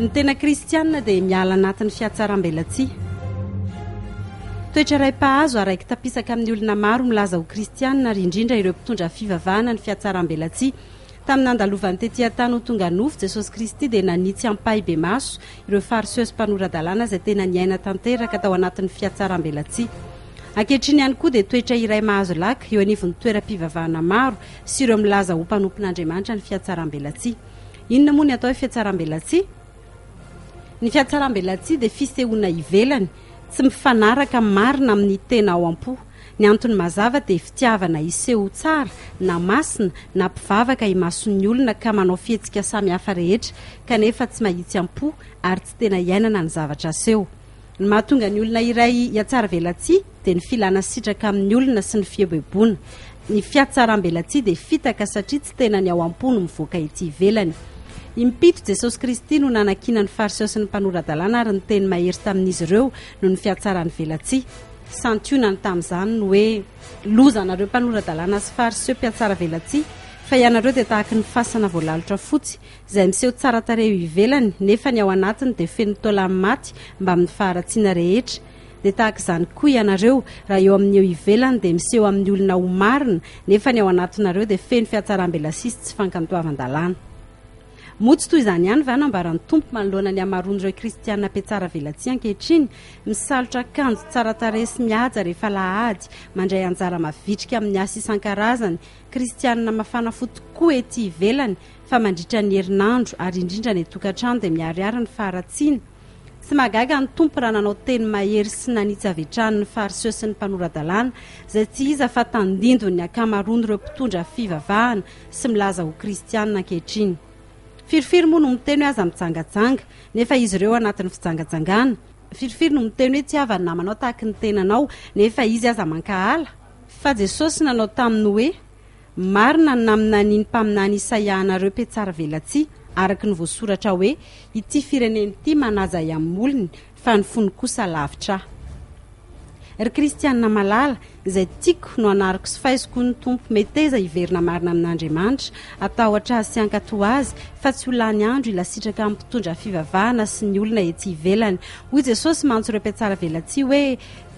Ny tena kristiana dia miala anatin'ny fihatsarambelatsihy. Toetra iray mpahazo araiki-tapisaka amin'ny olona maro milaza ho kristiana ary indrindra ireo mpitondra fivavahana ny fihatsarambelatsihy. Tamin'ny nandalovany tetỳ an-tany ho tonga nofo, Jesosy Kristy dia nanitsy ampahibemaso ireo Fariseo sy mpanora-dalàna izay tena niaina tanteraka tao anatin'ny fihatsarambelatsihy. Ankehitriny ihany koa dia toetra iray mahazo laka eo anivon'ny toeram-pivavahana maro sy ireo milaza ho mpanompon'Andriamanitra ny fihatsarambelatsihy. Inona moa ny atao hoe fihatsarambelatsihy? Ny fihatsarambelatsihy dia fisehoana ivelany, tsy mifanaraka marina amin'ny tena ao am-po. Ny antony mazava dia fitiavana hiseho ho tsara na masina na mpivavaka imason'ny olona ka manao fihetsika samihafa rehetra, kanefa tsy mahitsy am-po ary tsy tena iainana ny zavatra aseho. Ny mahatonga ny olona iray hihatsaravelatsihy dia ny filana sitraka amin'ny olona sy ny fieboeboana. Ny fihatsarambelatsihy dia fitaka satria tsy tena ny ao am-po no mivoaka ety ivelany. Impito, Jesosy Kristy no nanakiana ny Fariseo sy ny mpanora-dalàna ary niteny mahery tamin'izy ireo noho ny fihatsarany velatsihy. Santionany tamin'izany ny hoe, Loza anareo mpanora-dalàna sy Fariseo mpihatsara velatsihy, fa ianareo dia tahaka ny fasana voalalotra fotsy, izay miseho tsara tarehy eo ivelany nefa ny ao anatiny dia feno taolany maty mbamin'ny faharatsiana rehetra. Dia tahaka izany koa ianareo, raha eo amin'ny eo ivelany dia miseho amin'ny olona ho marina nefa ny ao anatinareo dia feno fihatsaram-belasihy sy tsy fankantoavan-dalàna. Moa tsy toy izany ihany va no ambaran'ny Tompo manoloana ny hamaroan'ireo kristiana mpiatsara velatsihy ankehitriny, misalotra akanjo tsara tarehy sy mihaja rehefa alahady, mandray anjara mavitrika amin'ny asa isan-karazany, Kristianina mafana fo tokoa ety ivelany, fa mandritra ny herinandro ary indrindra any an-tokantrano dia miharihary ny faharatsiana. Tsy mahagaga ny Tompo raha nanao teny mahery sy nanitsy avy hatrany ny Fariseo sy ny mpanora-dalàna, izay tsy iza fa tandindon'ny ankamaroan'ireo mpitondra fivavahana sy milaza ho Kristianina ankehitriny. Firifiry moa no miteny hoe aza mijangajanga, nefa izy ireo anatin'ny fijangajangana? Firifiry no miteny hoe tsy havany na manao tahaky ny tenanao, nefa izy aza mankahala? Fa Jesosy nanao taminy hoe, Marina ny naminanian'ny mpaminany Isaia anareo mpihatsaravelatsihy, araka ny voasoratra hoe, Ity firenena ity manaja ahy amin'ny molony, fa ny fony kosa lavitra ahy. Ry kristiana malala, izay tiako no anariko sy faiziko hoy ny Tompo, meteza hiverina marina amin'Andriamanitra, atahotra Azy sy hankatò Azy, fa tsy ho lany andro hilasitraka amin'ny mpitondra fivavahana sy ny olona ety ivelany. Hoy Jesosy mantsy ireo mpihatsaravelatsihy hoe,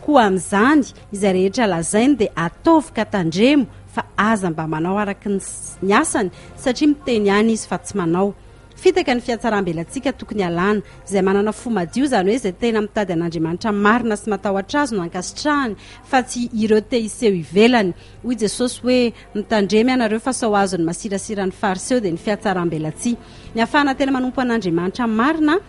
Koa amin'izany, Izay rehetra lazainy dia ataovy ka tandremo fa aza mba manao araka ny asany satria miteny ihany izy fa tsy manao. Fitaka ny fihatsaram-belantsika tokony alana. Izay manana fo madio izany hoe izay tena mitady an'Andriamanitra marina sy matahotra Azy no ankasitrahany fa tsy ireo te hiseho ivelany. Hoy Jesosy hoe mitandrema ianareo fa sao azon'ny masirasira ny Fariseo dia ny fihatsaram-belantsika. Ny hahafahana tena manompo an'Andriamanitra marina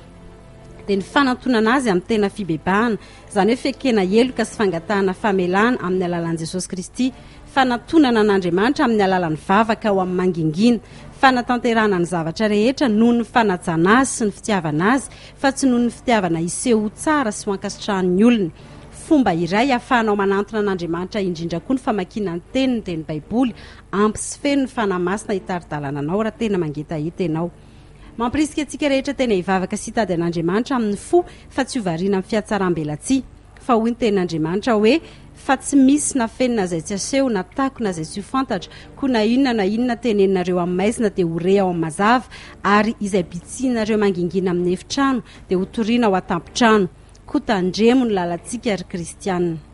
dia ny fanantonana Azy amin'ny tena fibebahana. izany hoe fekena heloka sy fangatahana famelana amin'ny alalan'i Jesosy Kristy, fanatonana an'Andriamanitra amin'ny alalan'ny vavaka ao amin'ny mangingina, fanatanterahana ny zavatra rehetra noho ny fanajana azy sy ny fitiavana azy fa tsy noho ny fitiavana hiseho ho tsara sy ho ankasitrahan'ny olona. Fomba iray ahafahanao manantona an'Andriamanitra indrindra koa ny famakiana ny Teniny, dia ny Baiboly. Ampy sy feno ny Fanahy Masina hitari-dalana anao raha tena mangetaheta ianao. Mampirisika antsika rehetra tena hivavaka sy hitady an'Andriamanitra amin'ny fo fa tsy ho variana amin'ny fihatsaram-belatsihy. Fa hoy ny Tenin'Andriamanitra hoe, Fa tsy misy na feno na izay tsy aseho, na tako na izay tsy ho fantatra, koa na inona na inona teneninareo amin'ny maizina dia ho re ao amin'ny mazava, ary izay bitsihinareo mangingina amin'ny efitrano dia hotorina ao an-tampon-trano. Koa tandremo ny lalantsika, ry kristiana.